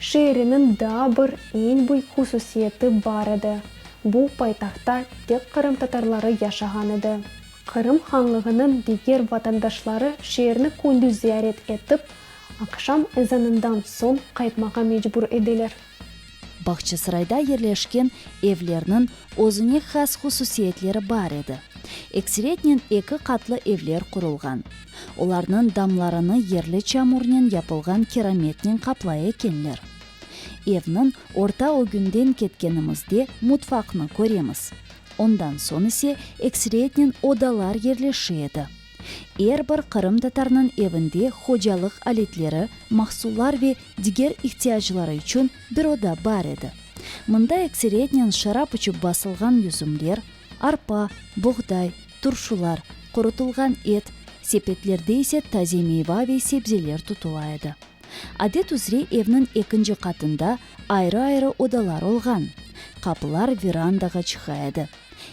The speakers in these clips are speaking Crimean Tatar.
Şeeriniñ daa bir eñ büyük hususiyeti bar edi, bu, paytahtta tek qırımtatarları yaşağan edi. Qırım hanlığınıñ diger vatandaşları şeerni kündüz ziyaret etip, aqşam ezanından soñ qaytmağa mecbur ediler. Bağçasarayda yerleşken evlerniñ özüne has hususiyetleri bar edi. Ekseretnen eki qatlı evler qurulğan. Olarnıñ damlarını yerli çamurnen yapılğan kerametnen qaplay ekenler. Evniñ orta ögünden ketkenimizde mutfaqnı köremiz. Ondan soñ ise ekseriyetnen odalar yerleşi edi. Er bir qırımtatarnıñ evinde hocalıq aletleri, mahsullar ve diger ihtiyacları içün bir oda bar edi. Mında ekseriyetnen şarap içip basılğan yüzümler, arpa, buğday, turşular, qurutılğan et, sepetlerde ise taze meyva ve sebzeler tutula edi. Adet üzre evniñ ekinci qatında ayrı-ayrı odalar olğan, qapılar verandağa çıqa edi.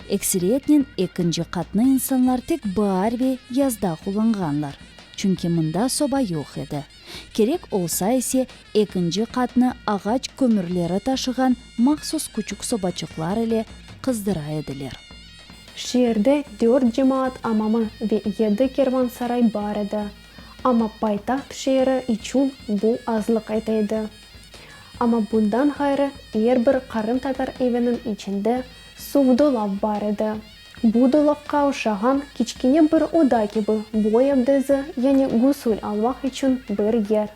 Ekseriyetnen ekinci qatnı insanlar tek baar ve yazda qullanğanlar, çünki mında soba yoq edi. Kerek olsa ise, ekinci qatnı ağaç kömürleri taşığan mahsus küçük sobaçıqlar ile qızdıra ediler. Şeerde dört cemaat amamı ve yedi kervansaray bar edi, amma paytaht şeeri içün bu azlıq ete edi. Amma bundan ğayrı er bir qırımtatar eviniñ içinde suvdolav bar edi. Bu dolapqa oşağan kiçkene bir oda kibi, bu evde zı, yani gusül almaq içün bir yer.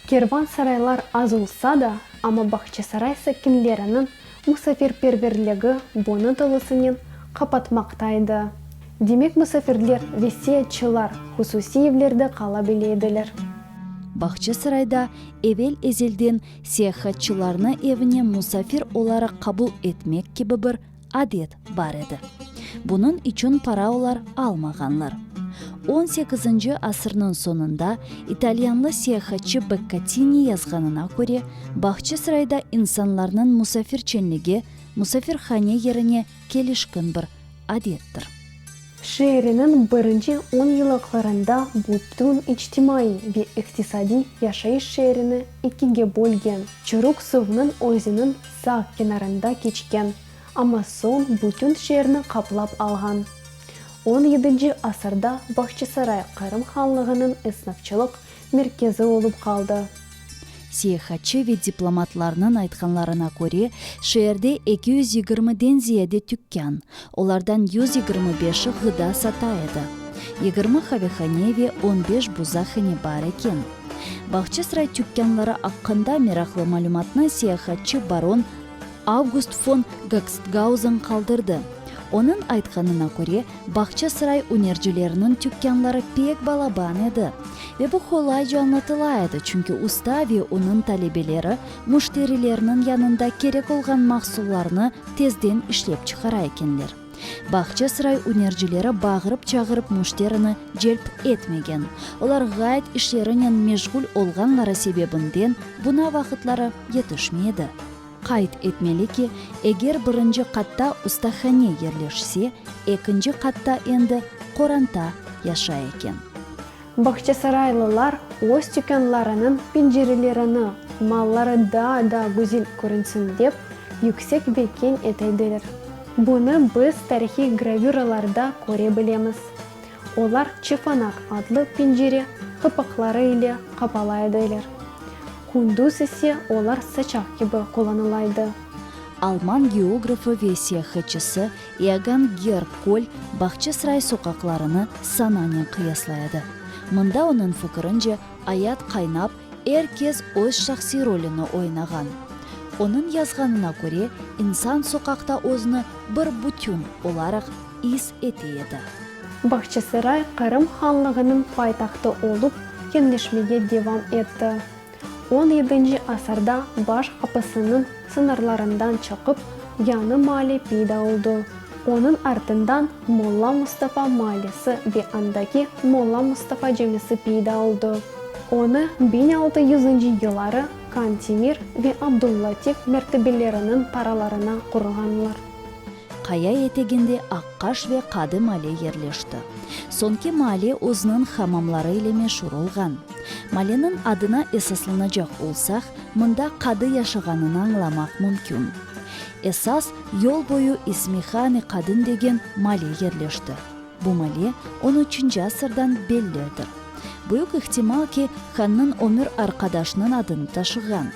Kervansaraylar az olsa da, amma Bağçasaray sakinleriniñ musafirperverligi bunı tolusınen qapatmaqta edi. Demek, musafirler, vesiyetçılar hususiy evlerde qala bile ediler. Bağçasarayda evel-ezelden seyahatçılarnı evine musafir olaraq qabul etmek kibi bir adet bar edi. Bunıñ içün para olar almağanlar. On sekizinci asırnıñ soñunda italyanlı seyahatçı Bekkatini yazğanına köre, Bağçasarayda insanlarnıñ musafirçenligi musafirhane yerine kelişkin bir adettir. Şeeriniñ birinci on yıllıqlarında butün içtimaiy ve iqtisadiy yaşayış şeerini ikige bölgen Çuruq suvnıñ özüniñ sağ kenarında keçken, amma soñ butün şeerni qaplap alğan. On yedinci asırda Bağçasaray Qırım Hanlığınıñ esnafçılıq merkezi olıp qaldı. Seyahatçı ve diplomatlarnıñ aytqanlarına köre, şeerde eki yüz yigirmi den ziyade tükkân, olardan yüz yigirmi beşi ğıda sata edi, yigirmi qavehane ve on beş buzahane bar eken. Bağçasaray tükkânları aqqında meraqlı malümatnı seyahatçı baron Avgust fon Gagstgauzen qaldırdı. Onıñ aytqanına köre, Bağçasaray ünercileriniñ tükkânları pek balaban edi. Ve bu qolayca añlatıla edi, çünki usta ve onıñ talebeleri müşterilerniñ yanında kerek olğan mahsullarnı tezden işlep çıqara ekenler. Bağçasaray ünercileri bağırıp-çağırıp müşterini celp etmegen. Olar ğayet işlerinen meşğul olğanları sebebinden buna vaqıtları yetişmey edi. Qayd etmeli ki, eger birinci qatta ustahane yerleşse, ekinci qatta endi qoranta yaşay eken. Bağçasaraylılar öz tükânlarınıñ pencerelerini malları daa da güzel körünsin dep, yüksek ve keñ etediler. Bunı biz tarihiy gravüralarda köre bilemiz. Olar çefanaq adlı pencere qapaqları ile qapala ediler. Kündüz ise olar saçaq kibi qullanıla edi. Alman geografı ve seyahatçısı Iogân Gerb Kol, Bağçasaray soqaqlarını sananen qıyaslay edi. Mında onıñ fikirince, ayat qaynap, er kes öz şahsiy rolüni oynağan. Onıñ yazğanına köre, insan soqaqta özüni bir bütün olaraq is ete edi. Bağçasaray Qırım hanlığınıñ paytahtı olıp, keñleşmege devam etti. On yedinci asırda baş qapisiniñ sıñırlarından çıqıp, Yanı Mali peyda oldı. Onıñ artından Molla Mustafa Malisi ve andaki Molla Mustafa Camisi peyda oldı. Onı biñ altı yüzünci yılları Kantemir ve Abdul-Latif mertebeleriniñ paralarına qurğanlar. Qaya eteginde Aqqaş ve Qadı Male yerleşti. Soñki Male özüniñ hamamları ile meşur olğan. Maleniñ adına esaslanacaq olsaq, mında Qadı yaşağanını añlamaq mümkün. Esas, yol boyu ismi Hami Qadın degen Male yerleşti. Bu male on üçünci asırdan belli edi. Büyük ihtimal ki, hannıñ ömür arqadaşnıñ adını taşığan.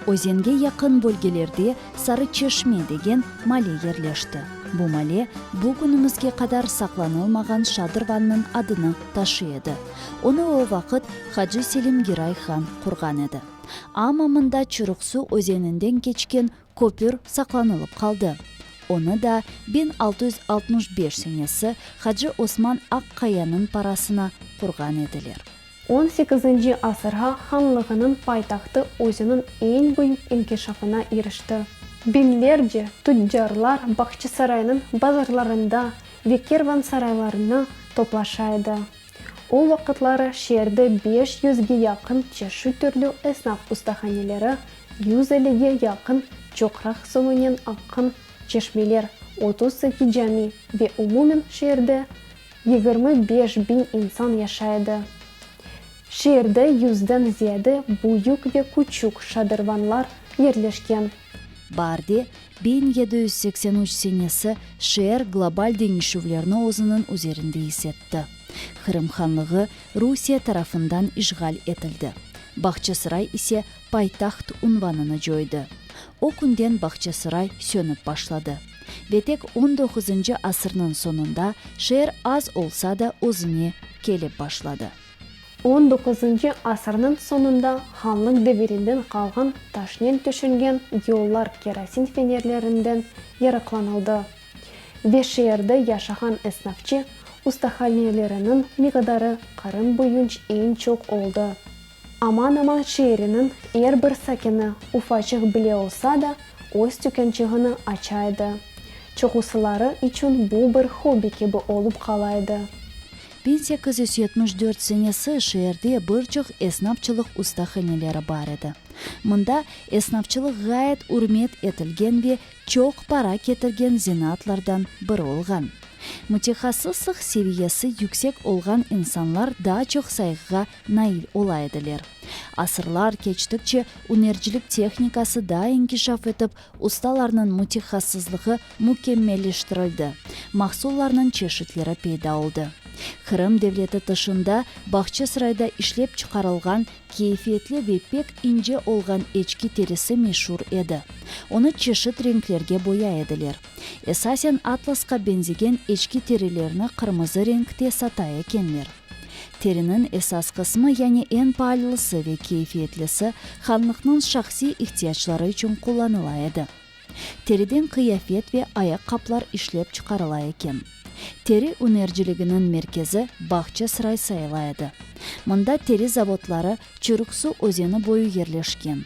Özenge yaqın bölgelerde Sarıçeşme degen male yerleşti. Bu male bu künümizge qadar saqlanılmağan şadır vannıñ adını taşıy edi. Onı o vaqıt Hacı Selim Giray han qurğan edi. Amma mında Çuruqsu özeninden keçken Köpür saqlanılıp qaldı. Onı da biñ altı yüz altmış beş senesi Hacı Osman Aqqayanıñ parasına qurğan ediler. On sekizinci asırğa hanlığınıñ paytahtı özüniñ eñ büyük inkişafına irişti. Biñlerce tüccarlar Bağçasaraynıñ bazarlarında ve kervansaraylarında toplaşa edi. O vaqıtları şeerde beş yüzge yaqın çeşit türlü esnaf ustahaneleri, yüz ellige yaqın çoqraq soñunen aqqan çeşmeler, otuz eki cami ve umumen şeerde yigirmi beş biñ insan yaşay edi. Şeerde yüzden ziyade büyük ve küçük şadırvanlar yerleşken. Barde Biñ yedi yüz seksen üç senesi şeer global deñişüvlerni özüniñ üzerinde is etti. Qırım Hanlığı Rusiye tarafından işğal etildi, Bağçasaray ise paytaht unvanını coydı. O künden Bağçasaray sönip başladı ve tek on doquzıncı asırnıñ soñunda şeer az olsa da özüne kelip başladı. On doquzıncı asırnıñ soñunda hanlıq devirinden qalğan taşnen tüşengen yollar kerosin fenerlerinden yaraqlanıldı ve şeerde yaşağan esnafçı ustahaneleriniñ miqdarı Qırım boyunç eñ çoq oldı. Aman-aman şeeriniñ er bir sakini ufaçıq bile olsa da öz tükânçığını aça edi, çoqusıları içün bu bir hobbi kibi olıp qala edi. Biñ sekiz yüz yetmiş dört senesi şeerde bir çoq esnapçılıq ustahaneleri bar edi. Mında esnapçılıq ğayet ürmet etilgen ve çoq para ketirgen zenaatlardan biri olğan. Mütehassıslıq seviyesi yüksek olğan insanlar daa çoq sayğığa nail ola ediler. Asırlar keçtikçe ünercilik tehnikası daa inkişaf etip, Ustalarnıñ mütehassıslığı mükemmelleştirildi, mahsullarnıñ çeşitleri peyda oldı. Qırım devleti tışında Bağçasırayda işlep çıqarılğan keyfiyetli ve pek ince olğan eçki terisi meşur edi. Onı çeşit renklerge boyay ediler. Esasen atlasqa benzegen eçki terilerni qırmızı renkte sata ekenler. Teriniñ esas qısmı, yani eñ paallısı ve keyfiyetlisi, hanlıqnıñ şahsiy ihtiyacları içün qullanıla edi. Teriden qıyafet ve ayaqqaplar işlep çıqarıla eken. Teri ünerciliginiñ merkezi Bağçasaray sayıla edi. Mında teri zavodları Çürüksu özeni boyu yerleşken.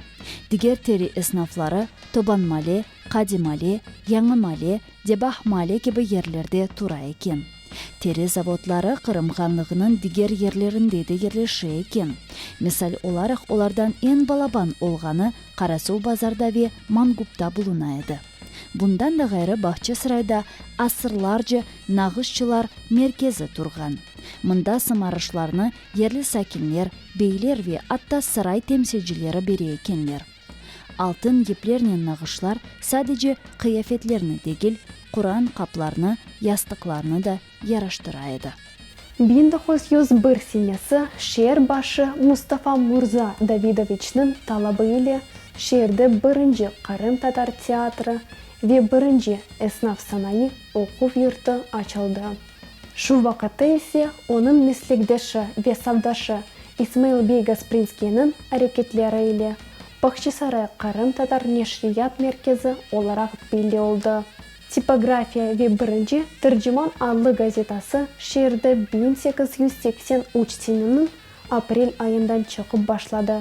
Diger teri esnafları Tobanmale, Qadimale, Yañımale, Debahmale kibi yerlerde tura eken. Teri zavodları Qırım Hanlığınıñ diger yerlerinde de yerleşe eken. Misal olaraq, olardan eñ balaban olğanı Qarasuvbazarda ve Mangupta buluna edi. Bundan da ğayrı Bağçasarayda asırlarca nağışçılar merkezi turğan. Mında sımarışlarnı yerli sakinler, beyler ve atta saray temsilcileri bere ekenler. Altın iplernen nağışlar sadece qıyafetlerni degil, Quran qaplarnı, yastıqlarnı da yaraştıra edi. Biñ doquz yüz bir senesi şeer başı Mustafa murza Davidoviçniñ talabı ile şeerde birinci qırımtatar teatrı ve birinci esnaf-sanayı oquv yurtu açıldı. Şu vaqıtta ise onıñ meslekdeşi ve savdaşı İsmail bey Gasprinskiyniñ areketleri ile Bağçasaray qırımtatar neşriyat merkezi olaraq belli oldı. Tipografiya ve Birinci Tırcıman adlı gazetası şeerde biñ sekiz yüz seksen üç seneniñ aprel ayından çıqıp başladı.